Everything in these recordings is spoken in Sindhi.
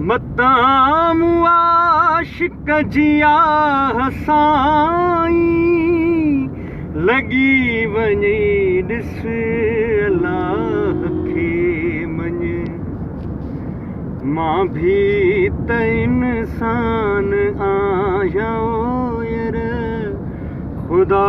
متان مون عاشق جي آھ سائين لڳي وڃي ڏس الله کي مڃ مان ڀي ته انسان آھيان ير خدا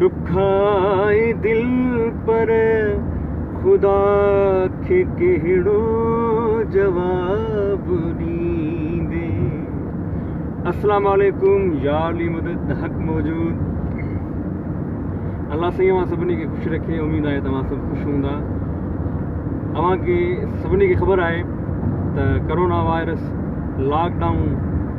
ڏکائي دل پر خدا کي ڪهڙو جواب ڏيندي. السلام عليڪم يار علي مدد حق موجود الله سائين اوهان سڀني کي خوش رکي اميد آهي توهان سڀ خوش هوندا اوهان کي سڀني کي خبر آهي ته ڪرونا وائرس لاڪ ڊائون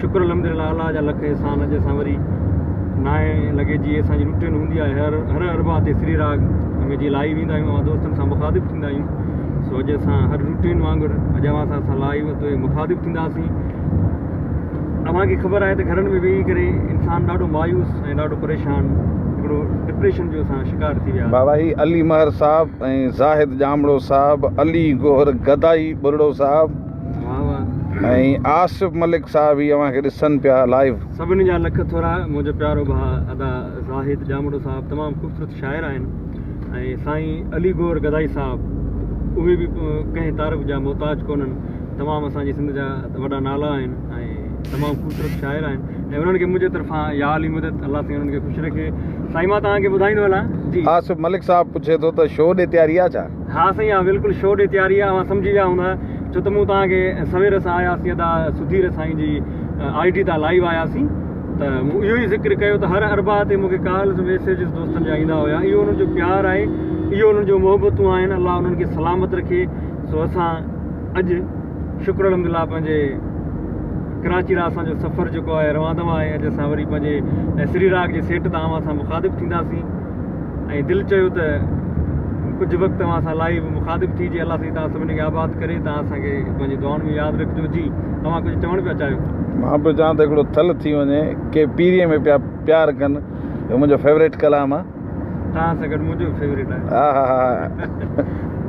شڪر الحمدلله الله جا لک احسان اڄ اسان وري نائي لڳي جي اسان جي روٽين هوندي آهي هر هر اربا تي سري راگ ۾ جي لائي ويندا آهيون دوستن سان مخاطب ٿيندا آهيون سو اڄ اسان هر روٽين وانگر اڄ اوهان سان اسان لائي وتو مخاطب ٿينداسين اوهان کي خبر آهي ته گھرن ۾ ويهي ڪري انسان ڏاڍو مايوس ۽ ڏاڍو پريشان هڪڙو ڊپريشن جو اسان شڪار ٿي ويا بابا هي علي مهر صاحب ۽ زاهد ڄامڙو صاحب علي گوهر گدائي ٻرڙو صاحب ۽ آصف ملڪ صاحب هي اوهان کي ڏسن پيا لائيو. سڀني جا لک ٿورا منهنجو پيارو ڀاء ادا زاهد ڄامڙو صاحب تمام خوبصورت شاعر آهن ۽ سائين علي گور گدائي صاحب اهي به ڪنهن تعارف جا محتاج ڪونهن تمام اسان جي سنڌ جا وڏا نالا آهن ۽ تمام خوبصورت شاعر آهن ۽ انهن کي منهنجي طرفان يا علي مدد الله سائين انهن کي خوش رکي سائين مان توهان کي ٻڌائيندو هلان جي آصف ملڪ صاحب پڇي ٿو ته شو ڏي تياري آهي ڇا؟ ها سائين اها بلڪل شو ڏي تياري آهي اوهان سمجهي ويا هوندا ڇو ته مون توهان کي سوير سان آيا سين ادا سڌير سائين جي آئي ڊي تان لائيو آيا سين ته مون اهو ئي ذڪر ڪيو ته هر اربع تي مون کي ڪالز ميسيجز دوستن جا ايندا هيا اهو انهن جو پيار آهي اهو انهن جو محبتون آهن الله انهن کي سلامت رکي سو اسان اڄ شڪر الحمد الله پنهنجي ڪراچي لا اسان جو سفر جيڪو آهي روان دوا آهي اڄ اسان وري پنهنجي سري راگ جي سيٽ تان اوهان سان مخاطب ٿينداسين ۽ دل چيو ته ڪجهه وقت اوهان سان لائيو مخاطب ٿي جي الله سائين توهان سڀني کي آباد ڪري توهان اسان کي پنهنجي دعائن ۾ ياد رکجو جي توهان ڪجهه چوڻ پيا چاهيو مان پيو چاهان ته هڪڙو ٿل ٿي وڃي ڪي پيري ۾ پيا پيار ڪن اهو منهنجو فيوريٽ ڪلام آهي توهان سان گڏ منهنجو به فيوريٽ آهي ها ها ها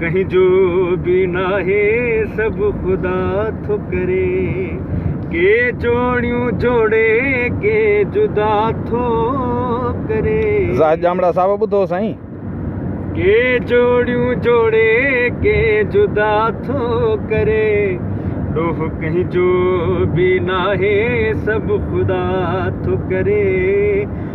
ڪنهن جو به ناهي سڀ خدا ٿو ڪري ڪي جوڙيون جوڙي ڪي جدا ٿو ڪري زاهد ڄامڙا صاحب ٻڌو سائين ڪي جوڙيون جوڙي ڪي جدا ٿو ڪري ڏوه ڪنهن جو به ناهي سڀ خدا ٿو ڪري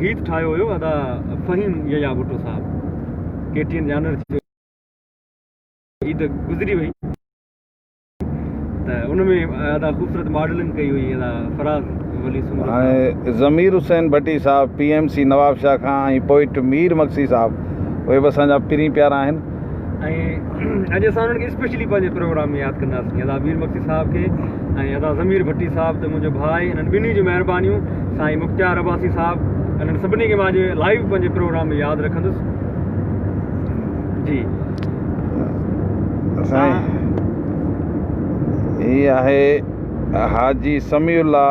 گيت ٺاهيو هيو ادا فهيم يحيٰ ڀٽو صاحب ڪي ٽي اين جانور ٿيو عيد گذري وئي ته ان ۾ ادا خوبصورت ماڊلنگ ڪئي هئي ادا فراز ولي سمر ۽ ضمير حسين ڀٽي صاحب P M C Nawab Shah کان ۽ پوئٽ مير مگسي صاحب اهي به اسان جا پرين پيارا آهن ۽ اڄ اسان انهن کي اسپيشلي پنهنجي پروگرام ۾ ياد ڪنداسين ادا مير مڪسي صاحب کي ۽ ادا ضمير ڀٽي صاحب ته منهنجو ڀاء آهي انهن ٻنهي جون مهربانيون سائين مختيار عباسي صاحب انهن سڀني کي مان لائيو پنهنجي پروگرام ۾ ياد رکندس جي اسان هي آهي حاجي سميع الله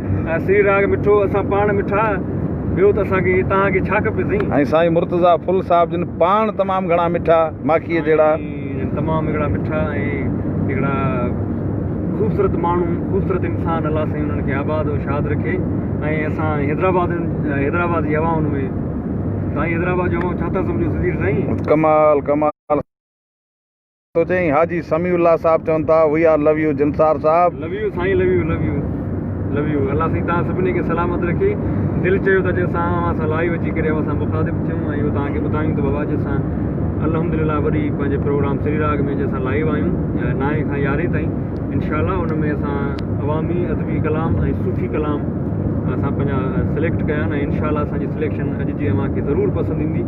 سري راڳ مٺو اسان پاڻ مٺا ٻيو ته اسان کي توهان کي ڇا کپي سائين. ۽ سائين مرتضيٰ ڦل صاحب جن پاڻ تمام گهڻا مٺا ماکيء جهڙا. جن تمام هڪڙا مٺا ۽ هڪڙا خوبصورت ماڻهو خوبصورت انسان الله سائين انهن کي آباد و شاد رکي ۽ اسان حيدرآباد حيدرآباد جي هوائن ۾ سائين حيدرآباد جون هوائون ڇا ٿا سمجهو سڌير سائين. ڪمال ڪمال. تو چئين حاجي سميع الله صاحب چون ٿا وي آر لو يو جنسار صاحب. لو يو سائين love you love you love you الله سائين توهان سڀني کي سلامت رکي دل چيو ته اڄ اسان اوهان سان لائيو اچي ڪري اوهان سان مخاطب ٿيون ۽ اهو توهان کي ٻڌايون ته بابا اڄ اسان الحمدلله وري پنهنجي پروگرام سري راڳ ۾ اڄ اسان لائيو آهيون نائين کان يارهين تائين انشاءالله ان ۾ اسان عوامي ادبي ڪلام ۽ صوفي ڪلام اسان پنهنجا سليڪٽ ڪيا آهن ۽ انشاءالله اسان جي سليڪشن اڄ جي اوهان کي ضرور پسند ايندي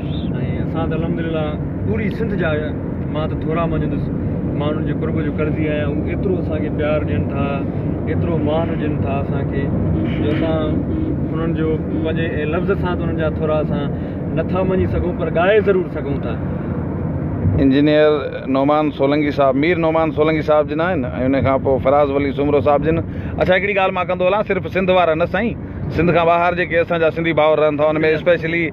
۽ اسان ته الحمدلله پوري سنڌ جا مان ته ٿورا مڃيندس ماڻهن جي قرب جو قرضي آهيان هو ايترو اسان کي پيار ڏين ٿا ايترو مان ڏين ٿا اسان کي جو اسان انهن جو پنهنجي ۽ لفظ سان ته انهن جا ٿورا اسان نٿا مڃي سگهون پر ڳائي ضرور سگهون ٿا انجنيئر نعمان سولنگي صاحب مير نعمان سولنگي صاحب جن آهن ۽ ان کان پوء فراز ولي سومرو صاحب جن اڇا هڪڙي ڳالهه مان ڪندو هلان صرف سنڌ وارا نه سائين سنڌ کان ٻاهر جيڪي اسان جا سنڌي ڀائر رهن ٿا ان ۾ اسپيشلي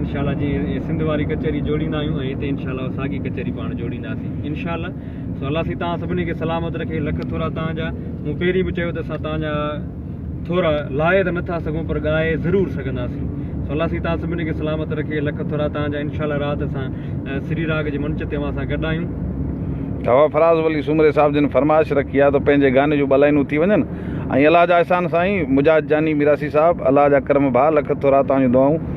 انشاء الله جي سنڌ واري ڪچهري جوڙيندا آهيون ۽ هتي انشاء الله ساڳي ڪچهري پاڻ جوڙينداسين انشاء الله سو الله سي توهان سڀني کي سلامت رکي لک ٿورا توهان جا مون پهرين به چيو ته اسان توهان جا ٿورا لائي ته نٿا سگهون پر ڳائي ضرور سگهنداسين سو الله سي توهان سڀني کي سلامت رکي لک ٿورا توهان جا انشاء الله رات اسان سري راگ جي منچ تي اوهان سان گڏ آهيون توهان فراز ولي سومري صاحب جن فرمائش رکي آهي ته پنهنجي گاني جو بلائنون ٿي وڃن ۽ الله جا احسان سائين مجاهد جاني ميراسي صاحب الله جا ڪرم ڀاء لک ٿورا توهان جون دعائون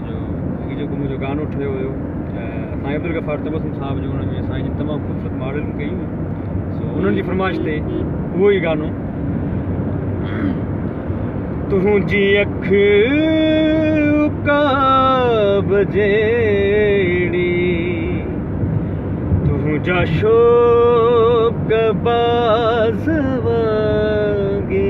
هي جيڪو منهنجو گانو ٺهيو هيو سائين عبدالغفار تبسم صاحب جو هن ۾ سائين جن تمام خوبصورت ماڊل ڪئي هئي سو انهن جي فرمائش تي اهو ئي گانو تنهنجي اک عقاب جيڙي تنهنجا شوق باز وانگي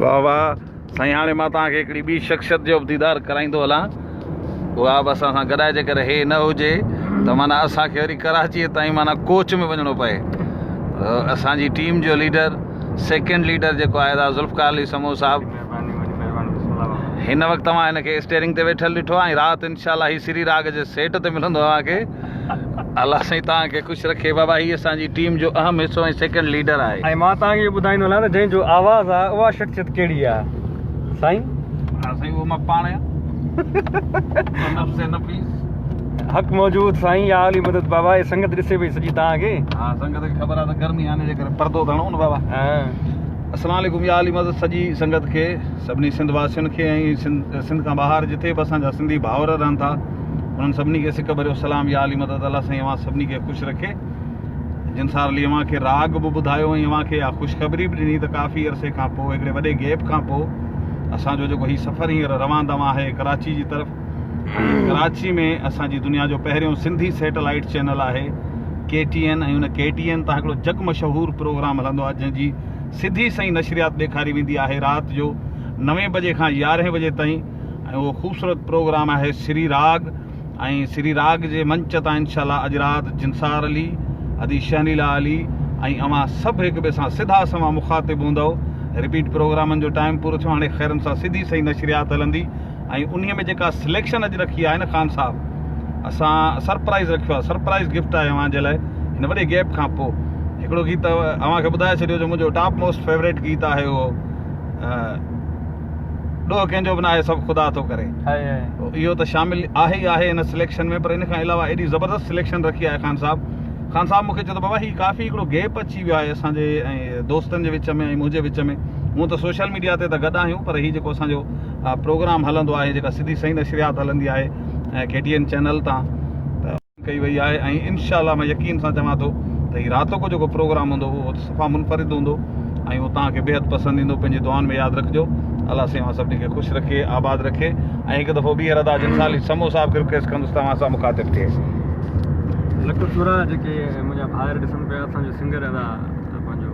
واھ واھ سائين هاڻي مان توهان کي هڪڙي ٻي شخصيت جو به ديدار ڪرائيندو هلان اها به اسان سان گڏائي جي ڪري هي نه هجي ته مانا اسان کي وري ڪراچي تائين مانا ڪوچ ۾ وڃڻو پئي اسان جي ٽيم جو ليڊر سيڪنڊ ليڊر جيڪو آهي دا ذوالفقار علي سمو صاحب هن وقت توهان هن کي اسٽيرنگ تي ويٺل ڏٺو آهي رات انشاءالله هي سري راڳ جي سيٽ تي ملندو اوهان کي الله سائين توهان کي خوش رکي بابا هي اسان جي ٽيم جو اهم حصو ۽ سيڪنڊ ليڊر آهي. ۽ مان توهان کي ٻڌائيندو هلان ته جنهن جو آواز آ اها شخصيت ڪهڙي آ سائين؟ ها سائين اهو مان پاڻ آهيان نفس نفيس. حق موجود سائين يا علي مدد بابا هي سنگت ڏسي پئي سڄي توهان کي. ها سنگت کي خبر آ ته گرمي آ ان جي ڪري پردو ڌڻو نه بابا. السلام عليڪم يا علي مدد سڄي سنگت کي سڀني سنڌ واسين کي ۽ سنڌ کان ٻاهر جتي به اسان جا سنڌي ڀائر رهن ٿا. انهن سڀني کي سڪ ڀريو سلام يا علي مدد الله سائين اوهان سڀني کي خوش رکي جن سار علي اوهان کي راڳ به ٻڌايو ۽ اوهان کي اها خوشخبري به ڏني ته ڪافي عرصي کان پوء هڪڙي وڏي گيپ کان پوء اسان جو جيڪو هي سفر هينئر روان دوان آهي ڪراچي جي طرف ڪراچي ۾ اسان جي دنيا جو پهريون سنڌي سيٽلائيٽ چينل آهي ڪي ٽي اين ۽ ان ڪي ٽي اين تان هڪڙو جڳ مشهور پروگرام هلندو آهي جنهن جي سڌي سئي نشريات ڏيکاري ويندي آهي رات جو نوين بجي کان يارهين بجي تائين ۽ اهو خوبصورت پروگرام آهي سري راڳ ۽ سري راڳ جي منچ تان انشاء الله اڄ رات جنسار علي ادي شهنيلا علي ۽ اوهان سڀ هڪ ٻئي سان سڌا سنوان مخاطب هوندؤ رپيٽ پروگرامن جو ٽائيم پورو ٿيو هاڻي خيرن سان سڌي سئي نشريات هلندي ۽ انهي ۾ جيڪا سليڪشن اڄ رکي آهي نه خان صاحب اسان سرپرائز رکيو آهي سرپرائز گفٽ آهي اوهان جي لاء هن وڏي گيپ کان پوء هڪڙو گيت اوهان کي ٻڌائي ڇڏيو جو منهنجو ٽاپ موسٽ فيوريٽ گيت آهي اهو ڏوهه ڪنهن جو به ناهي سڀ خدا ٿو ڪري اهو ته شامل آهي ئي آهي هن سليڪشن ۾ پر ان کان علاوه ايڏي زبردست سليڪشن رکي آهي خان صاحب خان صاحب مونکي چيو ته بابا هي ڪافي هڪڙو گيپ اچي ويو آهي اسان جي ۽ دوستن جي وچ ۾ ۽ منهنجي وچ ۾ هون ته سوشل ميڊيا تي ته گڏ آهيون پر هي جيڪو اسان جو پروگرام هلندو آهي جيڪا سڌي سئي نشريات هلندي آهي ڪي ٽي اين چينل تان ڪئي وئي آهي ۽ انشاء الله مان يقين سان چوان ٿو ته هي راتو ڪو جيڪو پروگرام هوندو اهو صفا منفرد هوندو ۽ اهو توهان کي بيحد پسند ايندو پنهنجي دعائن ۾ ياد رکجو الله سيوهان سڀني کي خوش رکي آباد رکي ۽ هڪ دفعو ٻيهر ادا جن سالي سمو صاحب کي رڪويسٽ ڪندس ته اوهان سان مخاطب ٿئي لک شورا جيڪي منهنجا ڀائر ڏسن پيا اسان جو سنگر ادا پنهنجو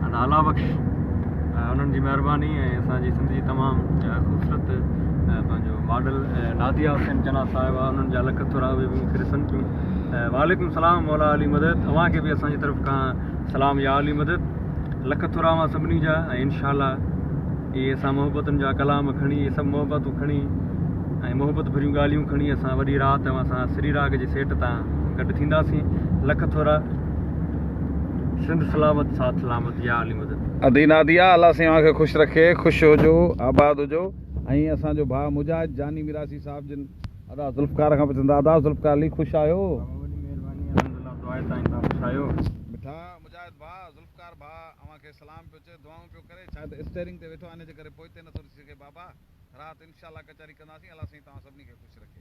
ادا الا بخش انهن جي مهرباني ۽ اسان جي سنڌ جي تمام خوبصورت پنهنجو ماڊل ناديه حسين چنا صاحب آ انهن جا لک ٿورا اهي به مون کي ڏسن ٿيون وعليڪم السلام مولا علي مدد اوهان کي به اسان جي طرف کان سلام يا علي مدد لک ٿورا اوهان سڀني جا ۽ انشاء الله اهي اسان محبتن جا ڪلام کڻي اهي سڀ محبتون کڻي ۽ محبت ڀريون ڳالهيون کڻي اسان وڏي رات اوهان سان سري راڳ جي سيٽ تان گڏ ٿينداسين لک ٿورا سنڌ سلامت سات سلامت يا علي مدد ادي ناديا الله سين اوهان کي خوش رکي خوش هجو آباد هجو ۽ اسان جو ڀاء مجاهد جاني ميراثي صاحب جن ادا ذوالفقار کان پڇن ٿا ادا ذوالفقار علي خوش آهيو؟ بابا وڏي مهرباني الحمدلله دعائي تائين تان خوش آهيو. مٺا مجاهد ڀاء ذوالفقار ڀاء اوهان کي سلام پيو چئي دعائون پيو ڪري ڇا ته اسٽيئرنگ تي ويٺو آهي ان جي ڪري پوئتي نٿو ڏسي سگهي بابا رات انشاء الله ڪچهري ڪنداسين الله سائين توهان سڀني کي خوش رکي.